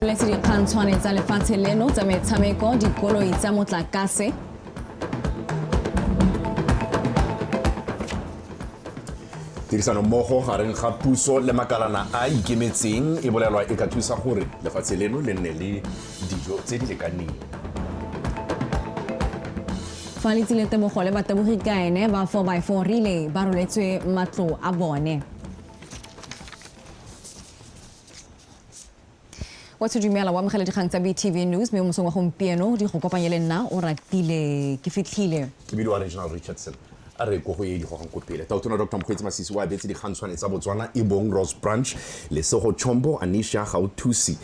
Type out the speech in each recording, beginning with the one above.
le tse dikgantshwane tsa lefatshe leno tsa metshameko dikoloi tsa motlakase tirisano mmogo gareng ga puso le makalana a ikemetseng e bolelwa e ka thusa gore lefatshe leno le nne le dijo tse di lekaneng fa le tsile tebogo le batebogi ka ene ba 4 by 4 rile ba roletswe matlo a bone wa tshedumela wa amogela dikgang tsa btv news mme mosong wa gompieno di go kopanye le nna o ratile ke fitlhile ke bile wa regional richardson a re ko go e digogang ko pele taotona dr mokgweetsi masisi o abetse dikgantshwane tsa botswana e bong rose branch lesego chombo anisha gauthusi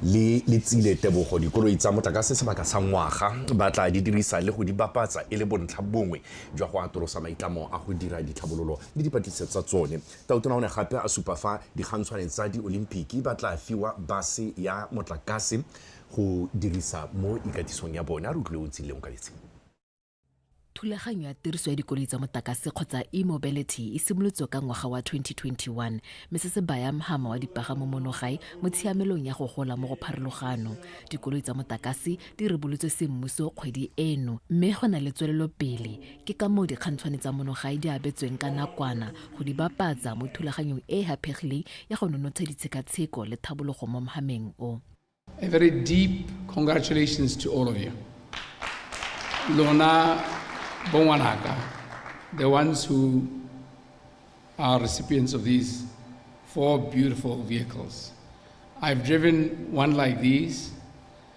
le le tsile tebogo dikoloi tsa motlakase sebaka sa ngwaga ba tla di dirisa le go di bapatsa e le bontlha bongwe jwa go atolosa maitlamo a go dira ditlhabololo le dipatlisiso tsa tsone Tautona o ne gape a supa fa digantshwane tsa Diolimpiki ba tla fiwa base ya motlakase go dirisa mo ikatisong ya bone. A re utlwile o ntshile Onkabetse. Thulaganyo ya tiriso ya dikoloi tsa motakase kgotsa e-mobility e simolotswe ka ngwaga wa 2021 mme se se baya mhama wa dipagamo mono gae mo tshiamelong ya go gola mo go pharologano. Dikoloi tsa motakase di rebolotswe semmuso kgwedi eno mme go na le tswelelopele Ke ka moo dikgantshwane tsa monogae di abetsweng ka nakwana go di bapatsa mo thulaganyong e e haphegileng ya go nonotsha ditshekatsheko le tlhabologo mo mhameng o. A very deep congratulations to all of you. Lona bo ngwanaka, the ones who are recipients of these four beautiful vehicles. I've driven one like these.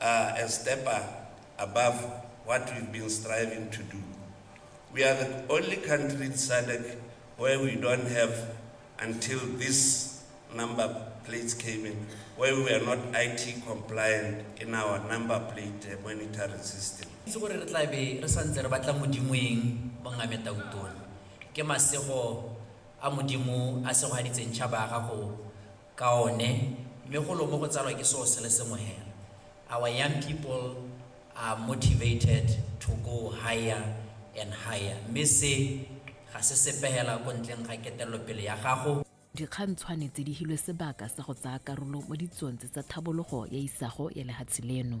are a step above what we've been striving to do. We are the only country in SADC where we don't have, until this number plates came in, where we are not IT compliant in our number plate uh, monitoring system. itse gore re tla be re santse re batla modimoeng mo ngame tautone ke masego a modimo a segogaditseng tšhaba ya gago ka one, mme golo mo go tsalwa ke seo se le sengwe hela. Our young people are motivated to go higher and higher, mme se ga se sepe hela ko ntleng ga ketelelopele ya gago. Dikgang tshwane tse di hilwe sebaka sa go tsaya karolo mo ditsong tse tsa tlhabologo ya isago ya lehatshe leno.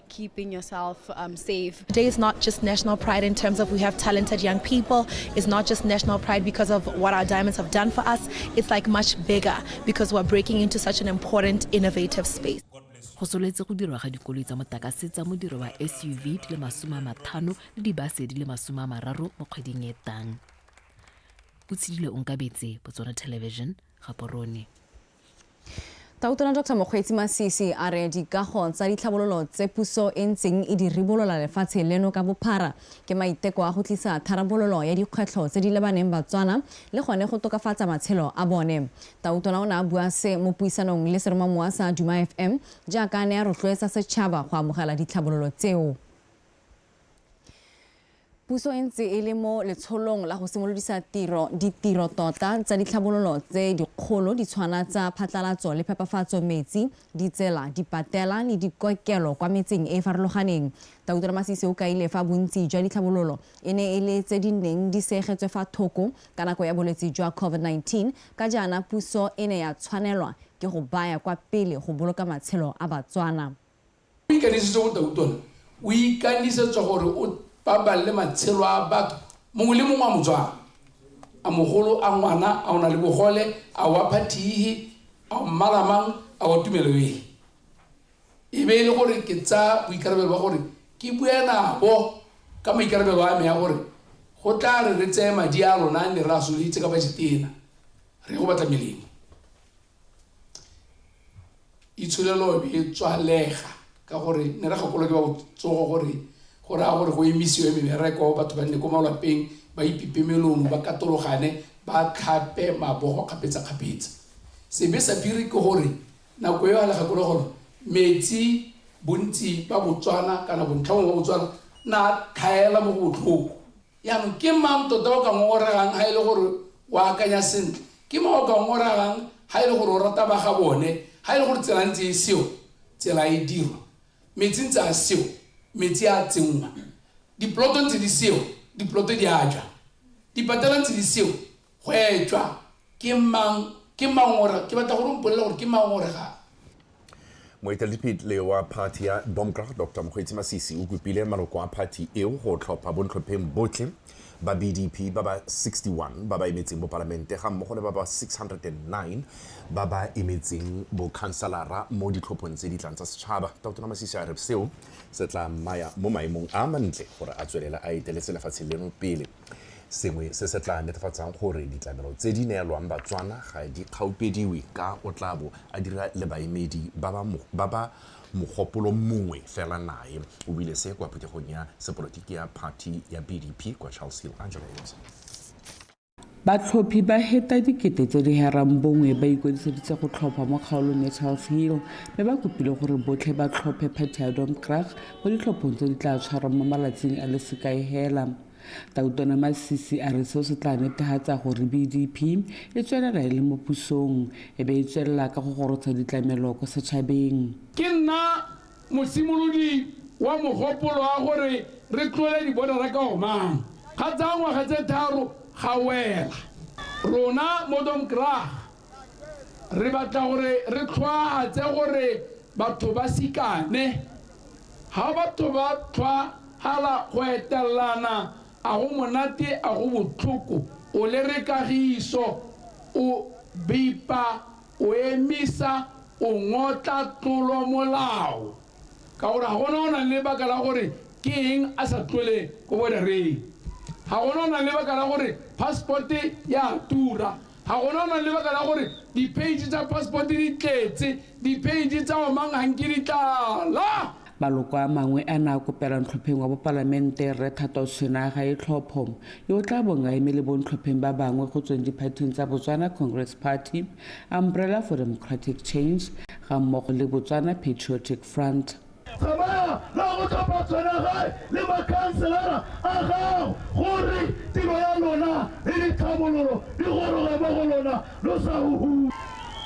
keeping yourself um, safe. Today is not just national pride in terms of we have talented young people. It's not just national pride because of what our diamonds have done for us. It's like much bigger because we're breaking into such an important, innovative space. go soletse go dirwa ga dikoloi tsa motakase tsa modiro wa suv di le masome a mathano le dibase di le masome a mararo mo kgweding e tang o tshedile onkabetse botswana television gaporone Tautona Doctor Mokgweetsi Masisi a re dikago tsa ditlhabololo tse puso e ntseng e di ribolola lefatshe leno ka bophara ke maiteko a go tlisa tharabololo ya dikgwetlho tse di lebaneng Batswana le gone go tokafatsa matshelo a bone. Tautona o ne a bua se mo puisanong le seromamowa sa Duma FM jaaka a ne a rotloetsa setšhaba go amogela ditlhabololo tseo. Puso e ntse e le mo letsholong la go simolodisa tiro ditiro tota tsa ditlhabololo tse dikgolo di tshwana tsa phatlalatso le phepafatso metsi, ditsela, dipatela le dikokelo kwa metseng e e farologaneng. Dautor Masisi o kaile fa bontsi jwa ditlhabololo e ne e le tse di neng di seegetswe fa thoko ka nako ya bolwetse jwa COVID-19 ka jaana puso e ne ya tshwanelwa ke go baya kwa pele go boloka matshelo a Batswana. O ikanisitse go tau tona, o ikanisetswa gore o pabalele matshelo a batho, mongwe le mongwe a Motswana, a mogolo, a ngwana, a o na le bogole, a wa phathi ehe, a o mmala mang, a wa tumelo ehe. E be e le gore ke tsa boikarabelo ba gore ke bue nabo ka maikarabelo a me a gore go tla re re tseye madi a lona a ne re a soleditse ka bajetena re go batla melemo. itsholelo e tswalega ka gore ne re gakolo ke ba botsogo gore go raya gore go emisiwe mebereko batho ba nne ko malwapeng ba ipipe melomo ba katologane ba tlhape mabogo kgapetsa-kgapetsa sebe sa phiri ke gore nako eo a le gakolo gore metsi bontsi ba botswana kana bontlhangwe ba botswana na tlhaela mo go botlhoko Jaanong, ke mang tota o ka ngongoregang ga e le gore o akanya sentle? Ke mang o ka ngongoregang ga e le gore o rata ba ga bone? Ga e le gore tsela ntse e sewa, tsela e dirwa. Metsi ntse a sewa, metsi a tsenngwa. Diploto ntse di sewa, diploto di a jwa. Dipatela ntse di sewa, Hwetšwa, ke mang, ke mangora, ke batla gore o mpolele gore ke mangore ga. Moeteledipele wa phathi ya DOMKRA, Doctor Mokgweetsi Masisi o kopile maloko a phathi eo go tlhopha bontlhopheng botlhe ba BDP ba ba 61 ba ba emetseng bopalamente ga mmogo le ba ba 609 ba ba emetseng bokhanselara mo ditlhophong tse di tlang tsa setšhaba. Tona Masisi a re seo se tla mmaya mo maemong a a mantle gore a tswelele a etele selefatshe leno pele. sengwe se se tla netefatsang gore ditlamelo tse di neelwang Batswana ga di kgaupediwe ka o tla bo a dira le baemedi ba ba mogopolo mongwe fela nae, o buile se kwa phuthegong ya sepolotiki ya phathi ya BDP kwa Charles Hill. Angela Wilson. Batlhophi ba heta dikete tse di herang bongwe ba ikwadiseditse go tlhopha mo kgaolong ya Charles Hill mme ba kopile gore botlhe ba tlhophe Patty Adom Krag Mo ditlhophong tse di tla tshwarwang mo malatsing a le sekae hela, Tautona Masisi a re seo se tla netehatsa gore BDP e tswelela e le mo pusong e be e tswelela ka go gorotsha ditlamelo ko setšhabeng. Ke nna mosimolodi wa mogopolo wa gore re tlole dibodara ka o mang. Ga tsaya ngwaga tse tharo ga wela. Rona mo Domkrag re batla gore re tlhwaatse gore batho ba sikane ga batho ba tlhwahala go etelelana a go monate a go botlhoko o le re kagiso o bipa o emisa o ngotla tlolo molao ka gore ga gona o nang le baka la gore ke eng a sa tlole ko bodareng ga gona o nang le baka la gore passport ya tura Ga go lona lebaka la gore dipeitše tsa passport di tletse, dipeitše tsa omang ganke di tlala. Maloko a mangwe a ne a kopela ntlhopheng wa bopalamente Rre Thato Sena ga e tlhopho, yo o tla bong a eme le bontlhopheng ba bangwe go tsweng diphathing tsa Botswana Congress Party, Umbrella for Democratic Change gammogo le Botswana Patriotic Front. Tsamaya la go tlhopha tshwanagae le makhanselara a gago gore tiro ya lona le ditlhabololo di goroge mo go lona lo sa huhuwe.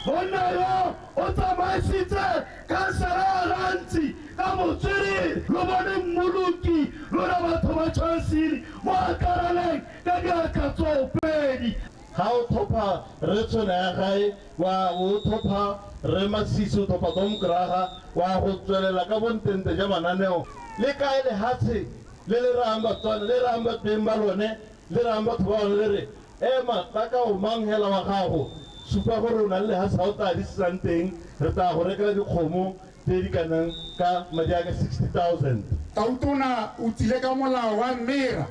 Monna yo o tsamaisitse khansara ya Ghanzi ka botswerere. Lo bone mmoloki lona batho ba Chansiri mo akaraleng ka diatla tsoopedi. Ga o thopha Rre Tshoneagae, wa o thopha Rre Masisi, o thopha Dom Graha, wa go tswelela ka bontente ja mananeo. Le kae lehatshe le le rayang Batswana, le rayang ba beng ba lone, le rayang batho ba lone le re, Ema, tla ka o mang hela wa gago, supa gore o na le lehatshe ha o tlaa le sisang teng, re tlaa go rekela dikgomo tse di ka nang ka madi a ka 60,000. Tautona o tsile ka molao wa Mmera.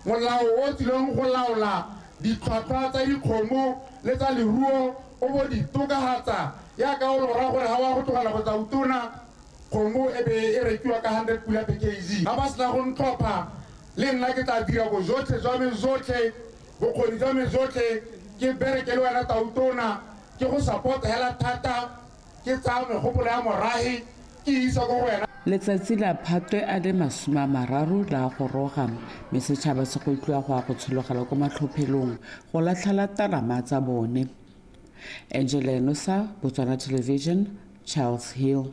Molao o o tsileng go laola ditlhwatlhwa tsa dikgomo le tsa leruo o bo di tokahatsa yaka o lora gore ha wa go tlogela go tsa utona kgomo e be e rekiwa ka 100 pula per kg. Ga ba sena go ntlhopha, le nna ke tla dira bojotlhe jwa me jotlhe, bokgoni jwa me jotlhe ke bereke le wena tautona, ke go support hela thata. Ke tsaya megopolo ya morage ke e isa ko go wena. Letsatsi la Phatwe a le masome a mararo la goroga, mme setšhaba se go tliwa go ya go tshologela ko matlhophelong go latlhela talama tsa bone. Angela Enosa, Botswana Television, Charles Hill.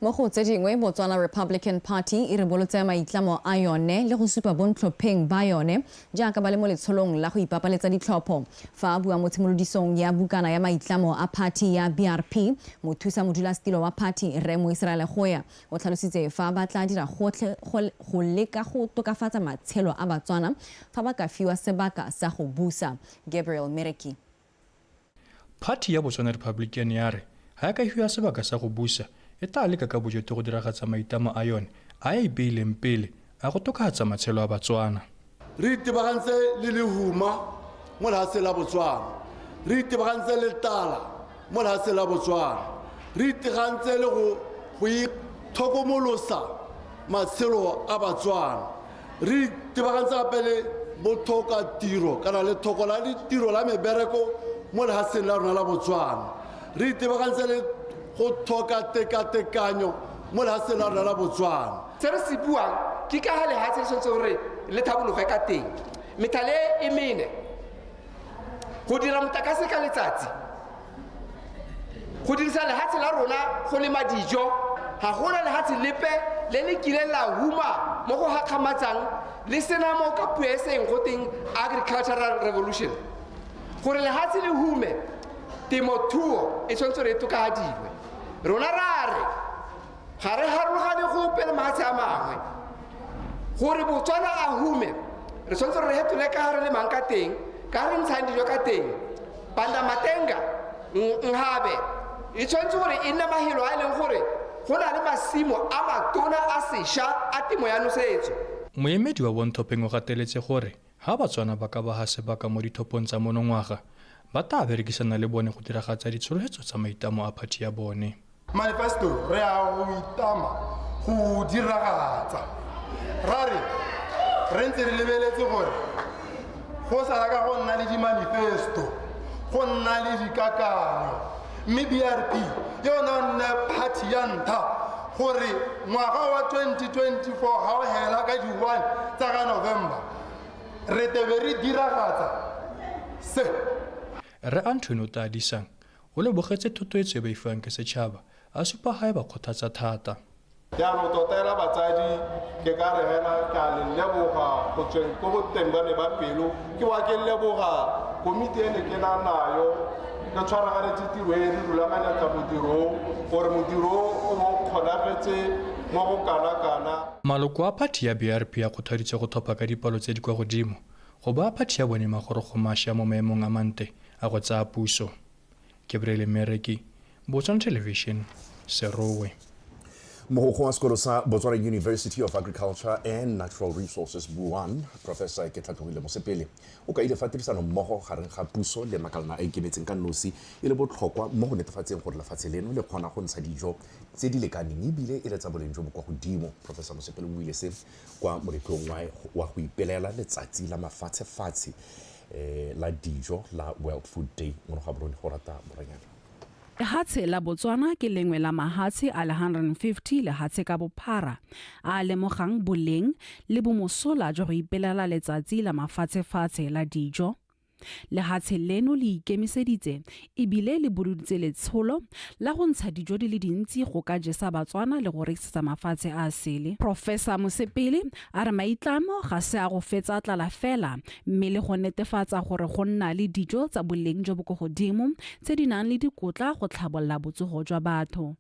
mo go tse dingwe botswana republican party e ribolotse maitlamo a yone le go supa bontlhopheng ba yone jaaka ba le mo letsholong la go ipapaletsa ditlhopho fa a bua mo tshimolodisong ya bukana ya maitlamo a party ya brp mothusa modulasetilo wa party rre moiseraele goya O tlhalositse fa ba tla dira gotlhe go leka go tokafatsa matshelo a Batswana fa ba ka fiwa sebaka sa go busa. Gabriel Mereki. Phathi ya Botswana Republican ya re ga e ka fiwa sebaka sa go busa, e tlaa leka ka bojoto go diragatsa maitlamo a yone a e ipeileng pele A go tokafatsa matshelo a Batswana. Re itebagantse le lehuma mo lehatsheng la Botswana. Re itebagantse le tala mo lehatsheng la Botswana. Re itegantse le go itlhokomolosa matshelo a Batswana. Re itebagantse gape le bothoka tiro kana lethoko la ditiro la mebereko mo lehatsheng la rona la Botswana. Re itebagantse le go thoka tekatekanyo mo lehatsheng la rona la Botswana. se re se buang ke ka ga lehatshe le tshwanetse gore le tlhabologe ka teng methale e mene go dira motlakase ka letsatsi go dirisa lehatshe la rona go lema dijo ga gona lehatshe lepe le le kileng la huma mo go gakgamatsang le sena mo ka puo e seng go teng agricultural revolution gore lehatshe le hume temothuo e tshwanetse re e tokafadiwe rona ra re ga re harologane gope le mafatshe a mangwe gore botswana a hume re tshwanetse re hetole ka re le mang ka teng ka re ntshang dijo ka teng banda matenga nhabe e tshwanetse gore e nne mahelo a e leng gore go na le masimo a matona a sesha a temo ya nosetso moemedi wa bonthopeng o gateletse gore Ha Batswana ba ka ba ha sebaka mo dithopong tsa monongwaga, ba taa berekisana le bone go diragatsa ditshologhetso tsa maitamo a phathi ya bone. Manifesto re a go itama go o diragatsa. Ra re, re ntse re lebeletse gore go sala ka go nna le dimanifesto, go nna le dikakanyo mme brp ke yona e nne party ya ntlha gore ngwaga wa 2024 ga o hela ka di-one tsa ka november re tebe re diragatsa se re anthony o tadisang o lebogetse thotoetso e ba ifang ke setšhaba a supa gae ba kgothatsa thata jaanong tota ela batsadi ke ka re hela ke a le leboga go tsweng ko boteng ba me ba pelo ke wa ke leboga komiti e ne ke na nayo re tshwaraganetse tiro e re rulaganyatsa modirong gore modiro o mo kgonagetse mo go kana-kana Maloko a phathi ya BRP a kgothaditse go thopa ka dipalo tse di kwa godimo go ba phathi ya bone Magorogo Masha mo maemong a mante a go tsaya puso. kebrele mereki botswana television serowe mogokgo wa sekolo sa botswana university of agriculture and natural resources buan professor ke tlhatlhogile mosepele o kaile fa tirisano mmogo gareng ga puso le makalana a ikemetseng ka nosi e le botlhokwa mo go netefatseng gore lefatshe leno le kgona go ntsha dijo tse di lekaneng ebile e le tsa boleng jo bo kwa godimo professor mosepele o buile se kwa moletlong wa go ipelela letsatsi la mafatshefatshe eh, la dijo la world food day mono ga borone go rata moranyana Lehatshe la Botswana ke lengwe la mahatshe a le 150 lehatshe ka bophara a a lemogang boleng le bomosola jwa go ipelela letsatsi la mafatshefatshe la dijo. Lehatshe leno le ikemiseditse e bile le buleditse letsholo la go ntsha dijo di le dintsi go ka jesa Batswana le go rekisetsa mafatshe a a sele. Professor Mosepele a re maitlamo ga se a go fetsa tlala fela mme le go netefatsa gore go nna le dijo tsa boleng jo bo ko godimo tse di nang le dikotla go tlhabolola botsogo jwa batho.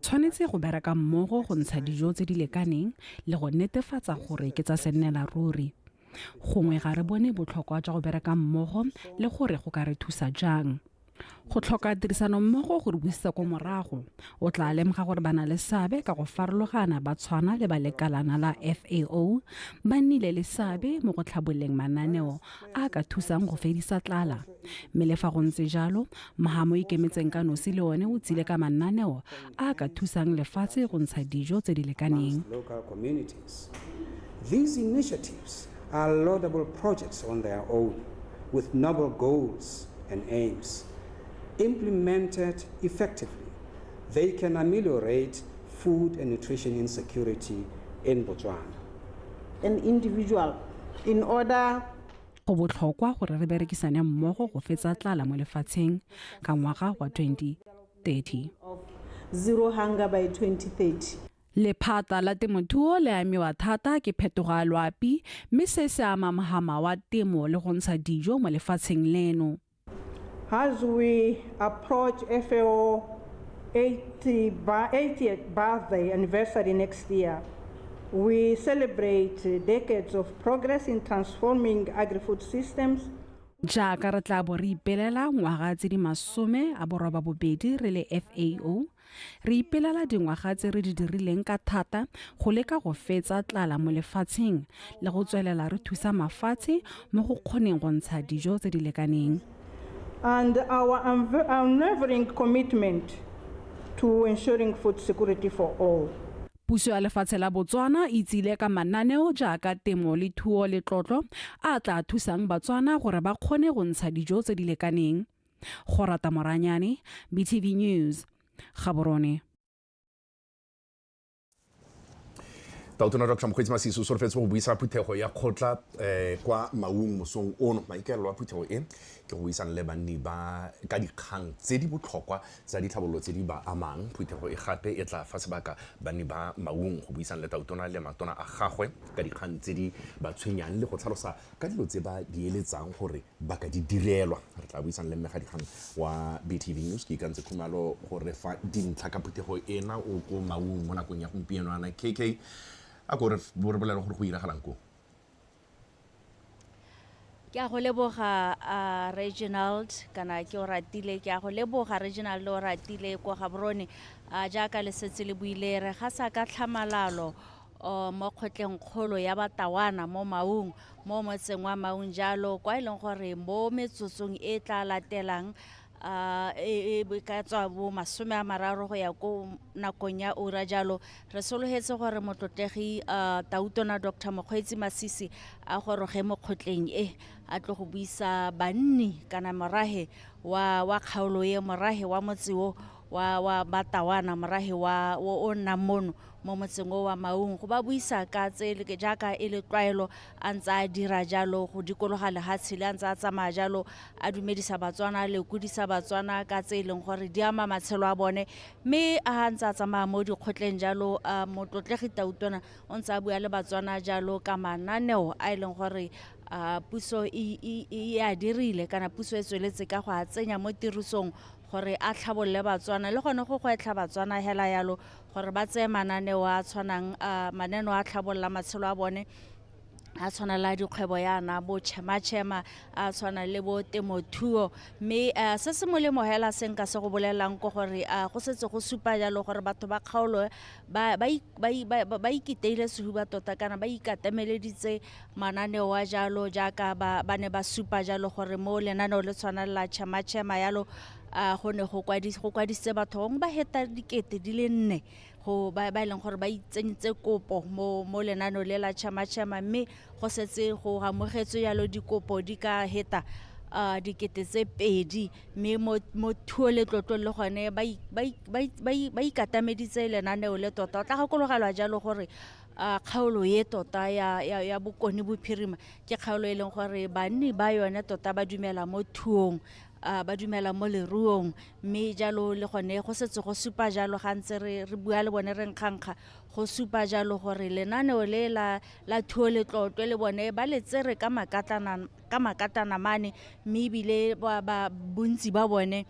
Tshwanetse go bereka mmogo go ntsha dijo tse di lekaneng le go netefatsa gore ke tsa sennela ruri. Gongwe ga re bone botlhokwa jwa go bereka mmogo le gore go ka re thusa jang. Go tlhoka tirisano mmogo go re busetsa ko morago. O tla lemoga gore ba na le seabe ka go farologana ba tshwana le ba lekalana la FAO ba nnile le seabe mo go tlhaboleng mananeo a ka thusang go fedisa tlala mme le fa go ntse jalo maga mo ikemetseng ka nosi le one o tsile ka mananeo a ka thusang lefatshe go ntsha dijo tse di lekaneng These initiatives are laudable projects on their own with noble goals and aims. Implemented effectively, they can ameliorate food and nutrition insecurity in Botswana. an individual in order go botlhokwa gore re berekisane mmogo go fetsa tlala mo lefatsheng ka ngwaga wa 2030 zero hunger by 2030 Lephata la temothuo le amiwa thata ke phetogo ya loapi mme se se ama mohama wa temo le go ntsha dijo mo lefatsheng leno. As we approach FAO 80 bi- 80th birthday anniversary next year, we celebrate uh, decades of progress in transforming agri-food systems jaaka re tla bo re ipelela ngwaga tse di masome a boroba bobedi re le fao Re ipelela dingwaga tse re di dirileng ka thata go leka go fetsa tlala mo lefatsheng le go tswelela re thusa mafatshe mo go kgoneng go ntsha dijo tse di lekaneng. and our unwavering commitment to ensuring food security for all. Puso ya lefatshe la Botswana e tsile ka mananeo jaaka temo le thuo le tlotlo a a tla thusang Batswana gore ba kgone go ntsha dijo tse di lekaneng. Gorata Moranyane, BTV News, Gaborone. taotona dr mokgweetsi masiso o solofetse go buisa phuthego ya kgotla um kwa maung mosong ono maikaelelo a phuthego e ke go buisana le banni ba ka dikgang tse di botlhokwa tsa ditlhabololo tse di ba amang phuthego e gape e tla fa sebaka banni ba maung go buisana le taotona le matona a gagwe ka dikgang tse di ba tshwenyang le go tlhalosa ka dilo tse ba di eletsang gore ba ka di direlwa re tla buisang le mmegadikgang wa btv news ke ikantse khumalo gore fa dintlha ka phuthego ena o ko maung mo nakong ya gompieno ana kk a kore bo re bolele gore go iragalang koo ke a go leboga uh, reginald kana ke o ratile ke a go leboga reginald o ratile kwa gaborone uh, jaaka lesetse le buile re ga sa ka tlhamalalo o mo kgotleng kgolo ya Batawana mo Maung mo motseng wa Maung jalo kwa e leng gore mo metsotsong e tla latelang uh, e, e ka tswa bo masome a mararo go ya ko nakong ya ura jalo re sologetse gore motlotlegi uh, tautona dr mokgweetsi masisi a goroge mo kgotleng e a tlo go buisa banni kana morage wa, wa kgaolo e morage wa motse o wa wa batawana morahe wa o o nnang mono mo motseng o wa maung go ba buisa ka tse le- jaaka e le tlwaelo a ntse a dira jalo go dikologa lehatshe le a ntse a tsamaya jalo a dumedisa batswana le kudisa batswana ka tse e leng gore di ama matshelo a bone mme a ntse a tsamaya mo dikgotleng jalo a motlotlegi tautona o ntse a bua le batswana jalo ka mananeo a e leng gore a puso e e- e a dirile kana puso e tsweletse ka go a tsenya mo tirisong gore a tlhabolole Batswana le gone go gwetlha Batswana hela yalo gore ba tseye mananeo a tshwanang uh, maneno a tlhabolola matshelo a bone a tshwana la dikgwebo yana bo chema-chema a tshwana le bo temothuo mme uh, se se molemo hela se nka se go bolelelang ko gore uh, go setse go supa jalo gore batho ba kgaolo ba, ba, ba, ba, ba ikiteile sehuba tota kana ba ikatemeleditse mananeo a jalo jaaka ba, ba ne ba supa jalo gore mo lenaneo le tshwana la chemachema yalo a go ne go kwadis- go kwadisitse batho bangwe ba heta dikete di le nne go ba ba e leng gore ba itsenyitse kopo mo mo lenaneo le la chemachema mme go setse go amogetswe yalo dikopo di ka heta a dikete tse pedi mme mo mo thuo le tlotlong le gone ba i- ba i- ba i- ba i- ba ikatameditse lenaneo le tota o tla gakologelwa jalo gore a kgaolo ye tota ya, ya, ya bokone bophirima ke kgaolo e leng gore banni ba yone tota ba dumela mo thuong uh, ba dumela mo leruong mme jalo le gone go setse go supa jalo ga ntse re, re bua le bone re nkgankga go supa jalo gore lenaneo le la, la thuo le tlotlwe le bone ba le tsere ka makatana, ka makatana mane mme ebile ba, ba bontsi ba bone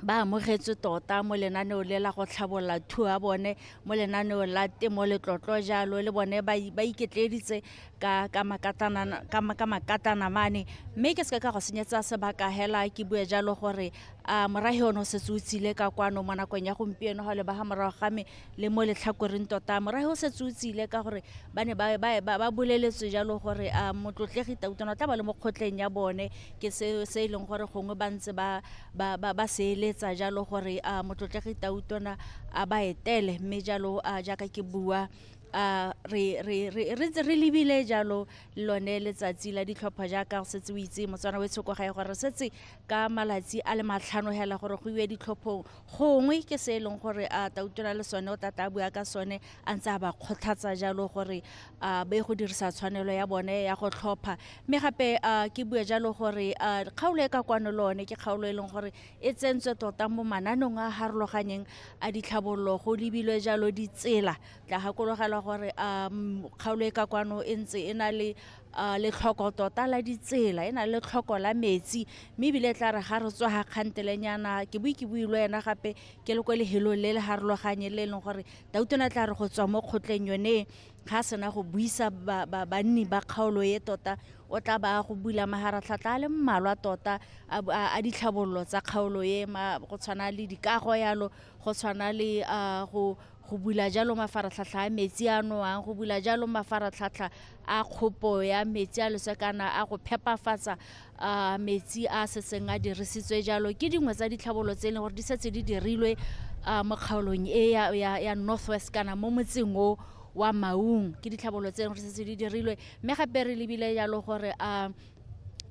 ba amogetswe tota mo lenaneong le la go tlhabolola thuo ya bone mo lenaneong la temo letlotlo jalo le bone ba i- ba iketleeditse ka ka makatana ka ma- ka makatana mane mme ke seke ka go senyetsa sebaka hela ke bue jalo gore a morahe ono setse o tsile ka kwano mo nakong ya gompieno ga o leba ga morago ga me le mo letlhakoreng tota morahe o setse o tsile ka gore ba ne ba boleletswe jalo gore a motlotlegi tautona o tla ba le mo kgotleng ya bone ke se se e leng gore gongwe ba ntse ba ba ba ba seeletsa jalo gore a motlotlegi tautona a ba etele mme jalo a jaaka ke bua a re re re re ntse re lebile jalo lone letsatsi la ditlhopha jaaka go setse o itse motswana o e tshoko gae gore re setse ka malatsi a le matlhano hela gore go iwe ditlhophong gongwe ke se e leng gore a ta utlwela le sone o tla tla bua ka sone a ntse a ba kgothatsa jalo gore a be go dirisa tshwanelo ya bone ya go tlhopha mme gape a ke bue jalo gore a kgaolo e ka kwano le one ke kgaolo e leng gore e tsentswe tota mo mananong a harologanyeng a ditlhabololo go lebilwe jalo ditsela tla gakologelwa gore a kgaolo e ka kwano e ntse e na le a letlhoko tota la ditsela e na le tlhoko la metsi mme ebile tla re ga re tswa ga kgantelenyana ke bue ke bue le ena gape ke le ko lehelong le le harologanye le e leng gore tautona tla re go tswa mo kgotleng yone ga sena go buisa banni ba kgaolo e tota o tla ba go bula maharatlhatlha a le mmalwa tota a ditlhabololo tsa kgaolo e go tshwana le dikago yalo go tshwana le go go bula jalo mafaratlhatlha a metsi a nowang go bula jalo mafaratlhatlha a kgopo ya metsi a losekana a go phepafatsa uh, metsi a setseng a dirisitswe jalo ke dingwe tsa ditlhabolo tse e leng gore di setse di dirilwe uh, mo kgaolong e ya, ya, ya northwest kana mo motseng o wa maung ke ditlhabolo tse e leng gore setse di dirilwe mme gape re lebile jalo gore um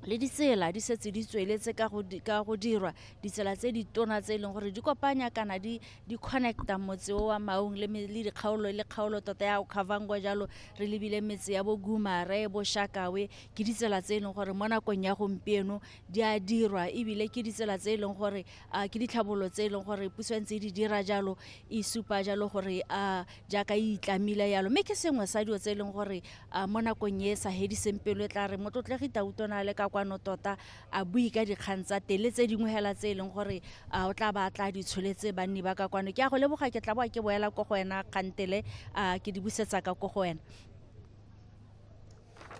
le ditsela di setse di tsweletse ka go dirwa ditsela tse di tona tse e leng gore di kopanya kana di di connecta motse o wa maung le me- le dikgaolo le kgaolo tota ya okhavangwa jalo re lebile metse ya bogumare boshakawe ke ditsela tse e leng gore mo nakong ya gompieno di a dirwa ebile ke ditsela tse e leng gore a ke ditlhabololo tse e leng gore puso e ntse e di dira jalo e supa jalo gore a jaaka e itlamile yalo mme ke sengwe sa dilo tse e leng gore a mo nakong e e sa hediseng pelo e tla re motlotlegi tautona a le ka kwano tota a bue ka dikgang tsa teng le tse dingwe hela tse e leng gore a o tla ba tla di tsholetse banni ba ka kwano ke a go leboga ke tla boa ke boela ko go wena kgantele a ke di busetsa ka ko go wena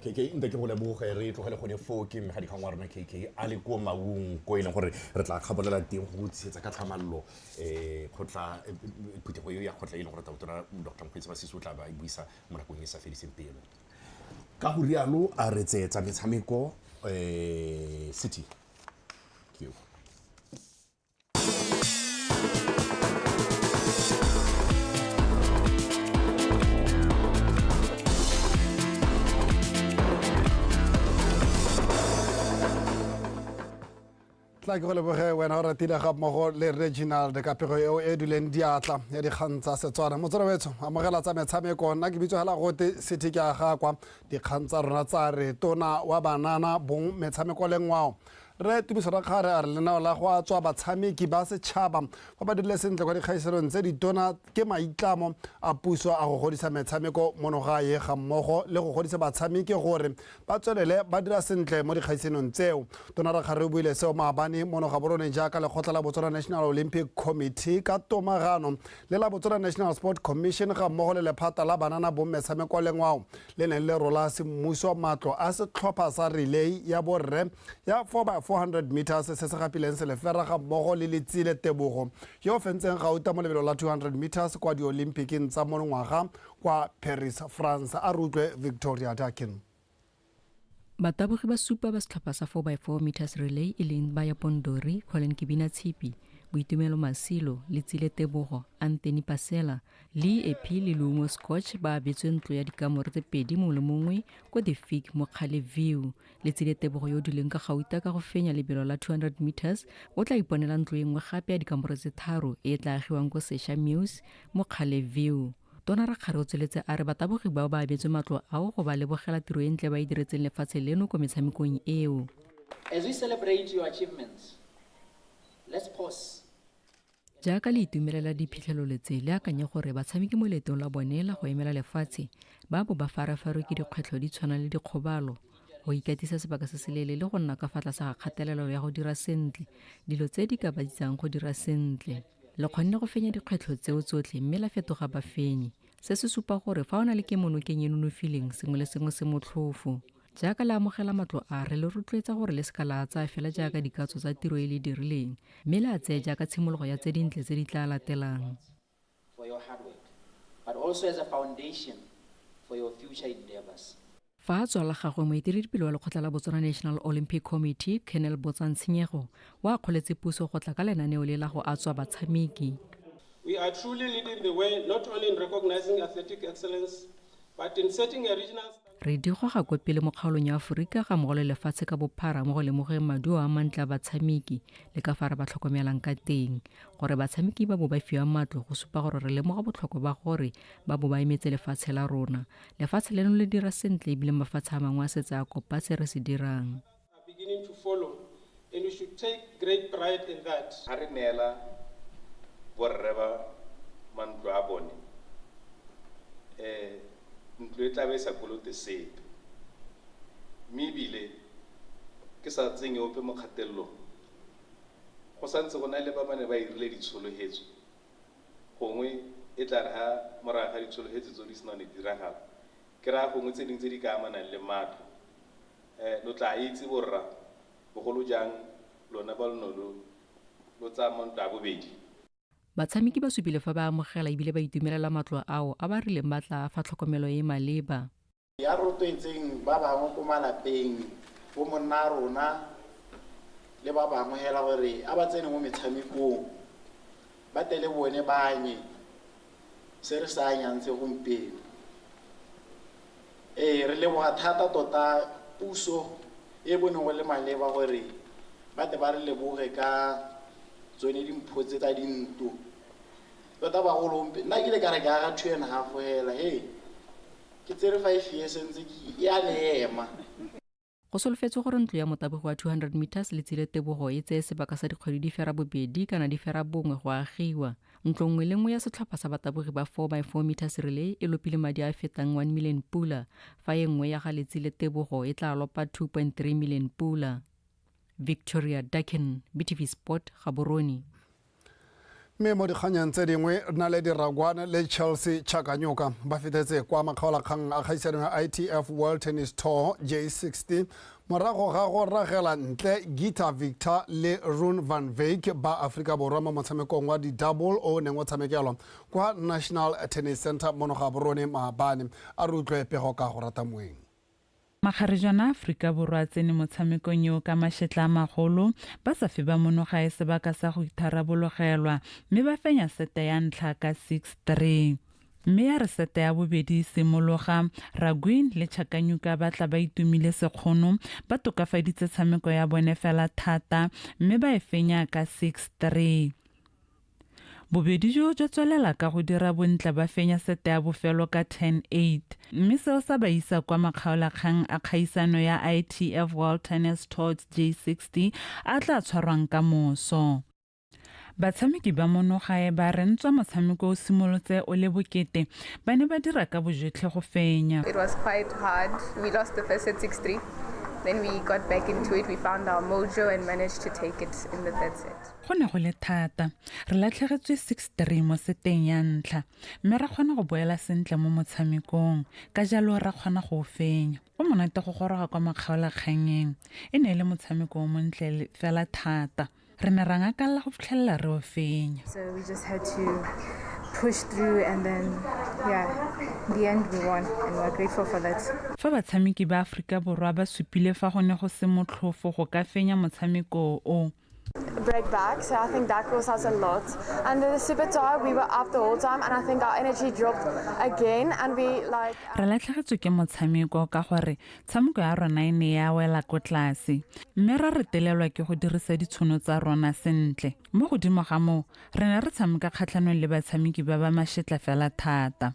kk nte ke go leboge re tlogele gone foo ke mmega dikgang wa rona kk a le ko maung ko e leng gore re tla kgabolela teng go tshegetsa ka tlhamallo um kgotla phuthego eo ya kgotla e leng gore tautona dr mokgweetsi ba sese o tla ba e buisa mo nakong e sa fediseng pelo ka go rialo a re tseetsa metshameko um city tla ke go leboge wena o ratile ga mmogo le reginald ka pego eo e duleng diatla ya dikgang tsa setswana motswere wetsho amogela tsa metshameko nna ke bitso hela gote sethe ke aga kwa dikgang tsa rona tsa re tona wa banana bong metshameko le ngwao re tumiso ra kgare a re lenao la go a tswa batshameki ba setšhaba ba ba dirile sentle kwa dikgaisanong tse ditona ke maitlamo a puso a go godisa metshameko mono gae ga mmogo le go godisa batshameki gore ba tswelele ba dira sentle mo dikgaisanong tseo. Tona Rakgare o buile seo maabane mono gaborone jaaka lekgotla la Botswana National Olympic Committee ka tomagano le la Botswana National Sport Commission ga mmogo le lephata la banana bomme sa mekwalengwao le neng le rola semmuso matlo a setlhopha sa relay ya borre ya 4x400 meters se se gapileng selefera ga mmogo le letsile tebogo yo o fentseng gauta mo lebelo la 200 meters kwa diolimpikeng tsa monongwaga kwa Paris, France, a re utlwe Victoria Dakin. Batabogi ba supa ba setlhopha sa 4x4 meters relay e leng Baya Pondori, Colin Kibina Tshipi, Boitumelo Masilo, Letsile Tebogo, Anthony Pasela, Lee Epi le Luongo Scotch ba abetswe ntlo ya dikamore tse pedi mongwe le mongwe ko The Fig mo Kgale View letsile tebogo yo o dileng ka gauta ka go fenya lebelo la 200 meters o tla iponela ntlo e nngwe gape ya dikamoro tse tharo e e tla agiwang ko sesha muse mo kgale view tona rakgare o tsweletse a re batabogi bao ba abetswe matlo ao go ba lebogela tiro e ntle ba e diretseng lefatshe leno ko metshamekong eo As we celebrate your achievements, let's pause jaaka le itumelela diphitlhelo letse le akanye gore batshameki mo leetong la bone la go emela lefatshe ba bo ba farafarwe ke dikgwetlho di tshwana le dikgobalo go ikatisa sebaka se se leele le go nna ka fa tlase ga kgatelelo ya go dira sentle dilo tse di ka ba ditsang go dira sentle le kgonne go fenya dikgwetlho tseo tsotlhe mme la fetoga bafenyi se se supa gore fa o na le kemonokeng e nonofileng sengwe le sengwe se motlhofo jaaka le amogela matlo a re le rotloetsa gore le seka la tsaya fela jaaka dikatso tsa tiro e le dirileng mme le a tseye jaaka tshimologo ya tse dintle tse di tla latelang fa a tswa la gagwe moeteledipele wa lekgotla la botswana national olympic committee colonel botsang tshenyego o akgoletse puso go tla ka lenaneo le la go a tswa batshameki We are truly leading the way not only in recognizing athletic excellence but in setting a regional Re di goga kwa pele mo kgaolong ya Aforika ga mmogo le lefatshe ka bophara mo go lemogeng maduo a mantle a batshameki le ka fa re ba tlhokomelang ka teng. Gore batshameki ba bo ba fiwa matlo go supa gore re lemoga botlhokwa ba gore ba bo ba emetse lefatshe la rona. Lefatshe leno le dira sentle ebile mafatshe a mangwe a setse a kopa se re se dirang. are beginning to follow and we should take great pride in that. Ha re neela borre ba mantlo a bone um ntlo e tla be e sa kolote sepe mme ebile ke sa tsenye ope mo kgatelelong go sa ntse go na le ba ba ne ba irile ditshologhetso gongwe e tla re ga morago ga ditshologhetso tse di sena ne diragala ke raya gongwe tse dingwe tse di ka amanang le matlo Eh, lo tlaa itse borra, bogolo jang lona ba lo no lo lo tsaya mo ntwa ya bobedi. Batshameki ba supile fa ba amogela ebile ba itumelela matlo ao a ba rileng ba tla a fa tlhokomelo e e maleba. Ya rotloetseng ba bangwe ko malapeng, bomonnarona le ba bangwe hela gore a ba tsene mo metshamekong, ba tle le bone ba anye. se re se anyang segompieno. Ee, re leboga thata tota puso e bone go le maleba gore ba tle ba re leboge ka tsone dimpho tse tsa dintlo tota bagolo nna ke le ka re ke aga two and half fela he ke tsere five years ntse e a le ema Go solofetswe gore ntlo ya motabogi wa 200 meters le tsile tebogo e tseye sebaka sa dikgwedi di fera bobedi kana di fera bongwe go agiwa. Ntlo nngwe le nngwe ya setlhopha sa batabogi ba 4 by 4 meters relay e lopile madi a fetang 1 million pula, fa e nngwe ya ga letsile tebogo e tla lopa 2.3 million pula. Victoria Duckin, BTV Sport, Gaborone. Mme mo dikganyeng tse dingwe, Naledi Ragwane le Chelsea Chakanyoka ba fetetse kwa makgaolakgang a kgaisano ya ITF World Tennis Tour J60 morago ga go ragela ntle Gita Victor le Rune van Wyk ba Aforika Borwa mo motshamekong wa di-double o neng o tshamekelwa kwa National Tennis Center mono ga borone maabane. A re utlwe pego ka go rata moeng. Makgarejana Aforika Borwa a tsene mo tshamekong eo ka mašetla a magolo, ba sa fe ba monogae sebaka sa go itharabologelwa mme ba fenya sete ya ntlha ka 6-3. Mme ya re sete ya bobedi e simologa, Raguin le Chakanyuka ba tla ba itumile sekgono, ba tokafaditse tshameko ya bone fela thata mme ba e fenya ka 6-3. Bobedi jo jwa tswelela ka go dira bontle ba fenya sete ya bofelo ka 10-8, mme seo sa ba isa kwa makgaolakgang a kgaisano ya ITF World Tennis Tours J60 a tla tshwarwang ka moso. Batshameki ba mo Nogae ba re ntswa motshameko o simolotse o le bokete, ba ne ba dira ka bojotlhe go fenya. It was quite hard. We lost the first set 6-3. Then we got back into it, we found our mojo and managed to take it in the third set. Go ne go le thata. Re latlhegetswe 6-3 mo seteng ya ntlha, mme ra kgona go boela sentle mo motshamekong, ka jalo ra kgona go o fenya. Go monate go goroga kwa makgaolakgannyeng. E ne e le motshameko o montle fela thata. Re ne ra ngakalela go fitlhelela re o fenya. So we just had to push through and then yeah, in the end we won and we're grateful for that. Fa batshameki ba Aforika Borwa ba supile fa go ne go se motlhofo go ka fenya motshameko o, break back. So I think that cost us a lot. And the super tire, we were up the whole time, and I think our energy dropped again. And we like. Re latlhegetswe ke motshameko ka gore tshameko ya rona e ne ya wela ko tlase mme ra re telelwa ke go dirisa ditshono tsa rona sentle mo godimo ga moo re ne re tshameka kgatlhanong le batshameki ba ba mashetla fela thata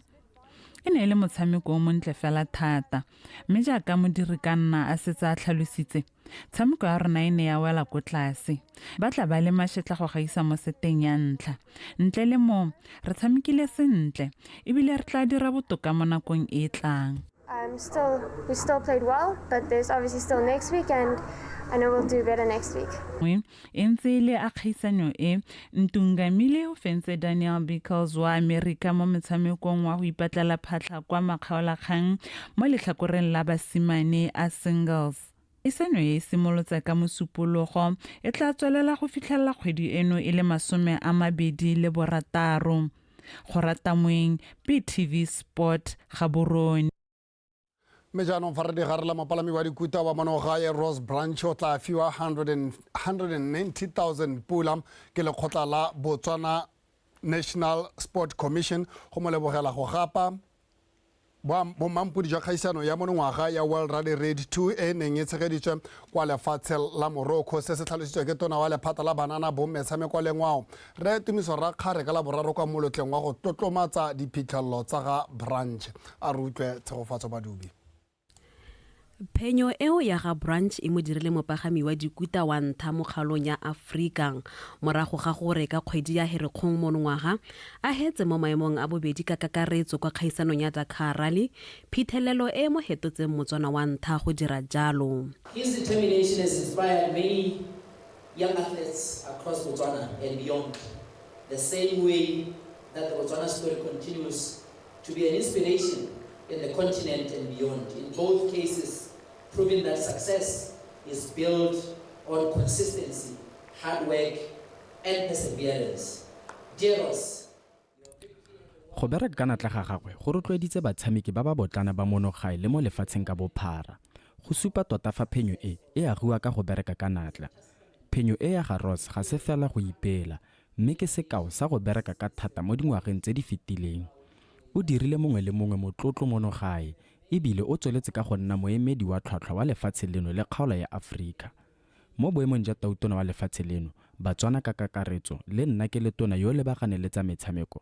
e ne e le motshameko o montle fela thata mme jaaka modiri ka nna a setse a tlhalositse Tshameko ya rona e ne ya wela ko tlase. Ba tla ba le mašetla go gaisa mo seteng ya ntlha. Ntle le mo, re tshamekile sentle ebile re tla dira botoka mo nakong e e tlang. Um, still, we still played well, but there's obviously still next week and I know we'll do better next week. E ntse e le a kgaisanyo e, Ntungamile o fentse Daniel Bickles wa Amerika mo metshamekong wa go ipatlela phatlha kwa makgaolakgang mo letlhakoreng la basimane a singles. Arts. Iseno e simolotse ka Mosupologo, e tla tswelela go fitlhelela kgwedi eno e le masome a mabedi le borataro. Kgoratamweng, BTV Sport, Gaborone. mme jaanong fa re digarela mopalami wa dikuta wa monogae ross branch o tla fiwa 190000 pula ke lekgotla la botswana national sport commission go mo lebogela go gapa bommampodi jwa kgaisano ya monongwaga ya world rally raid 2 e neng e tshegeditswe kwa lefatshe la morocco se se tlhalositswe ke tona wa lephata la banana bommetshameko le ngwao re tumiso ra kgare ka la boraro kwa molotleng wa go tlotlomatsa diphitlhelelo tsa ga branch a re utlwe tshegofatso badubi Phenyo eo ya ga Branch e mo dirile mopagami wa dikuta wa ntha mo kgalong ya Afrika morago ga gore ka kgwedi ya Herekgong monongwaga a hetse mo maemong a bobedi ka kakaretso kwa kgaisanong ya Dakar Rally, phethelelo e e mo hetotseng Motswana wa ntha go dira jalo. His determination has inspired many young athletes across Botswana and beyond, the same way that the Botswana story continues to be an inspiration in the continent and beyond. In both cases, proving that success is built on consistency, hard work, and perseverance. Dear Ross, go bereka ka natla ga gagwe go rotloeditse batshameki ba ba botlana ba monogae le mo lefatsheng ka bophara go supa tota fa phenyo e e agiwa ka go bereka ka natla phenyo e ya ga ross ga se fela go ipela mme ke sekao sa go bereka ka thata mo dingwageng tse di fetileng. O dirile mongwe le mongwe motlotlo mono gae e bile o tsweletse ka go nna moemedi wa tlhwatlhwa wa lefatshe leno le kgaolo ya Aforika. Mo boemong ja Tautona wa lefatshe leno, Batswana ka kakaretso le nna ke le Tona yo o lebaganeng le tsa metshameko,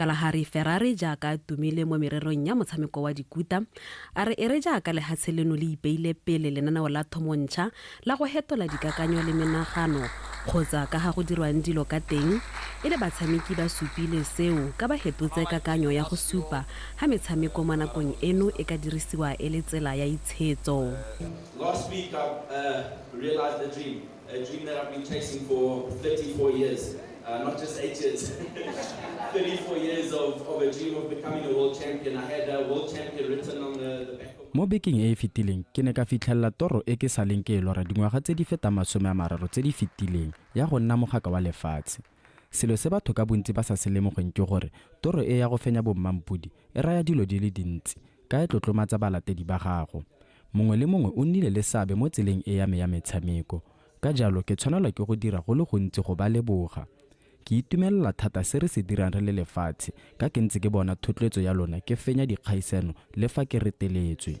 Kalahari Ferrari jaaka a tumile mo mererong ya motshameko wa dikuta, a re e re jaaka lehatshe leno le ipeile pele lenaneo la thomo ntšha la go hetola dikakanyo le menagano kgotsa ka ga go dirwang dilo ka teng, e le batshameki ba supile seo ka ba hepotse kakanyo ya go supa ga metshameko mo nakong eno e ka dirisiwa e le tsela ya itshetso. A dream that I've been chasing for 34 years, uh, not just eight years. 34 years of, of a dream of becoming a world champion. I had a world champion written on the, the back mo bekeng e e fetileng ke ne ka fitlhelela toro e ke saleng ke e lora dingwaga tse di fetang masome a mararo tse di fetileng ya go nna mogaka wa lefatshe selo se batho ka bontsi ba sa se lemogeng ke gore toro e ya go fenya bommampodi e raya dilo di le dintsi ka e tlotlomatsa balatedi ba gago Mongwe le mongwe o nnile le seabe mo tseleng e ya me ya metshameko, ka jalo ke tshwanelwa ke go dira go le gontsi go ba leboga. Ke itumelela thata se re se dirang re le lefatshe ka ke ntse ke bona thotloetso ya lona ke fenya dikgaisano le fa ke reteletswe.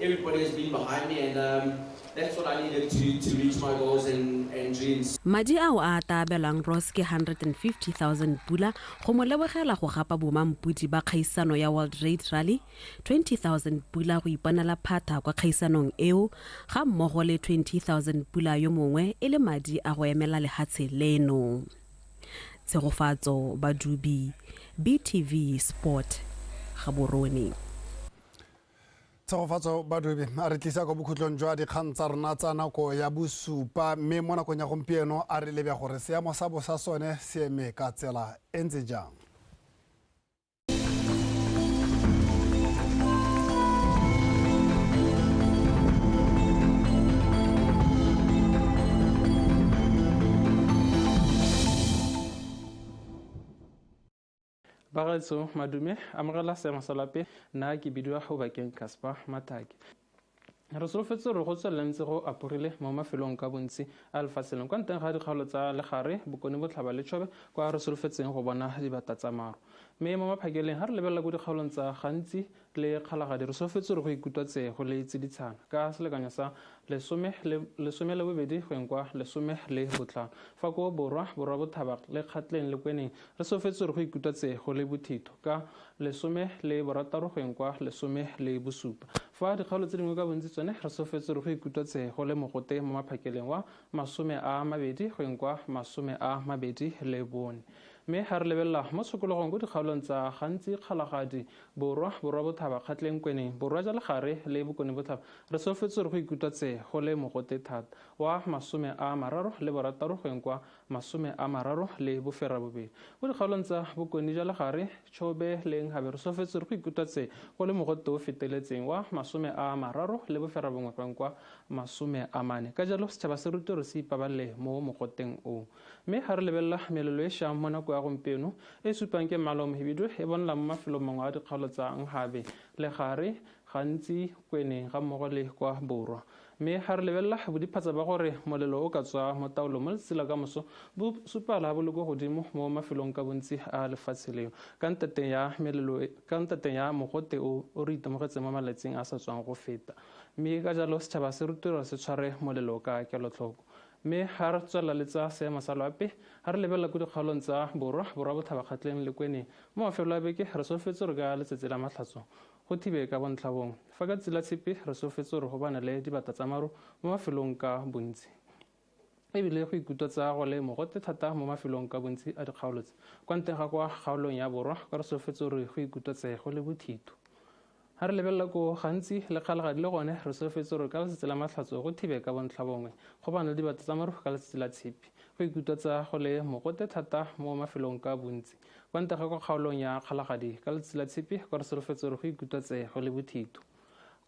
Everybody has been behind me and um, that's what I needed to, to reach my goals and, and dreams. Madi ao a ata abelwang Ross ke 150,000 pula go mo lebogela go gapa bomampudi ba kgaisano ya World Raid Rally, 20,000 pula go iponela phatha kwa kgaisanong eo, ga mmogo le 20,000 pula yo mongwe e le madi a go emela lehatshe leno. Tshegofatso Badubi, BTV Sport, Gaborone. tshegofatso badobi a re tlisa kwa bokhutlong jwa dikgang tsa rona tsa nako ya bosupa mme mo nakong ya gompieno a re lebe gore seemo sa bosa sone se eme ka tsela e ntse jang bagaetso madume amogela seemo sa lape nna ke bidiwa go bakeng casper matake re solofetse gore go tswelela ntse go aporile mo mafelong ka bontsi a lefatshe leng kwa nteng ga dikgaolo tsa legare bokone botlhaba le tšhobe kwa re solofetseng go bona dibata tsa maro mme mo maphakeleng ga re lebelela ko dikgaolong tsa gantsi le Kgalagadi re solofetse gore go ikutwa tse go le tsiditshana ka selekanyo sa lesome le lesome le bobedi go eng kwa lesome le botlhano fa ko borwa borwa bothaba le kgatleng le kweneng re solofetse gore go ikutwa tse go le bothito ka lesome le borataro go eng kwa lesome le bosupa fa dikgaolo tse dingwe ka bontsi tsone re solofetse gore go ikutwa tse go le mogote mo maphakeleng wa masome a mabedi go eng kwa masome a mabedi le bone mme ga re lebelela mo tshokologong ko dikgaolong tsa gantsi kgalagadi Borwa, Borwa Bothaba, Kgatleng, Kweneng, Borwa ja Legare le Bokone Botlhaba, re solofetse gore go ikutwa tse go le mogote thata. Wa masome a mararo le borataro go yeng kwa masome a mararo le boferabobedi. Mo dikgaolong tsa Bokone ja Legare, Chobe le Nkhabe re solofetse gore go ikutwa tse go le mogote o feteletseng wa masome a mararo le boferabongwe go yeng kwa masome a mane. Ka jalo, setšhaba se rutiwe gore se ipabalele mo mogoteng o. Mme ga re lebelela melelo e shang mo nako ya gompieno e supang ke mmala o mohibidu e bonala mo mafelong mangwe a dikgaolo tsa Nhabe, legare, gantsi Kweneng ga mmogo le kwa borwa. Mme ga re lebelela bodiphatsa ba gore molelo o ka tswa mo taolong mo letsatsi la kamoso bo supala bo le ko godimo mo mafelong ka bontsi a lefatshe leo ka ntateng ya melelo ka ntateng ya mogote o o re itemogetseng mo malatsing a sa tswang go feta. Mme ka jalo setšhaba se rutelwa se tshware molelo ka kelotlhoko. Mme ha re tswelela le tsa seemo sa loape, ha re lebelela ko dikgaolong tsa borwa, borwa botlhabakgatleng le kweneng, mo mafelo a beke re solofetse gore ka letsatsi la Mahlatso go thibe ka bontlhabongwe. Fa ka tsatsi la Tshipi re solofetse gore go banele dibata tsa maru mo mafelong ka bontsi. E bile go ikutwatsa go le mogote thata mo mafelong ka bontsi a dikgaolo tse. Kwa ntle ga kwa kgaolong ya borwa, kwa re solofetse gore go ikutwatse go le bothitho. Ha re lebelela koo, gantsi, lekgalagadi le gone, re solofetse gore ka letsatsi la matlhatso go thibe ka bontlhabongwe, go ba na dibata tsa marufu ka letsatsi la tshipi. Go ikutwatsa go le mogote thata mo mafelong ka bontsi. Kwa ntle ga kwa kgaolong ya kgalagadi, ka letsatsi la tshipi kwa re solofetse gore go ikutwatse go le bothito.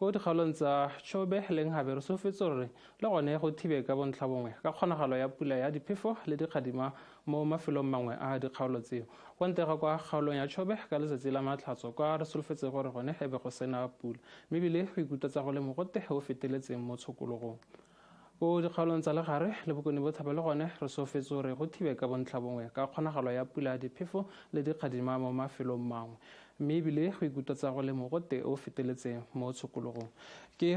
Ko dikgaolong tsa Chobe le Nhabe re solofetse gore le gone go thibe ka bontlhabongwe ka kgonagalo ya pula ya diphefo le dikgadima mo mafelong mangwe a dikgaolo tseo. Kwa ntle ga kwa kgaolong ya Chobe, ka letsatsi la Matlhatso, kwa re solofetse gore gone e be go sena pula, mme ebile go ikutwetsa go le mogote o feteletseng mo tshokologong. Ko dikgaolong tsa legare le bokone bothaba le gone re soofetse gore go thibe ka bontlhabongwe ka kgonagalo ya pula, diphefo le dikgadima mo mafelong mangwe, mme ebile go ikutwetsa go le mogote o feteletseng mo tshokologong. Ke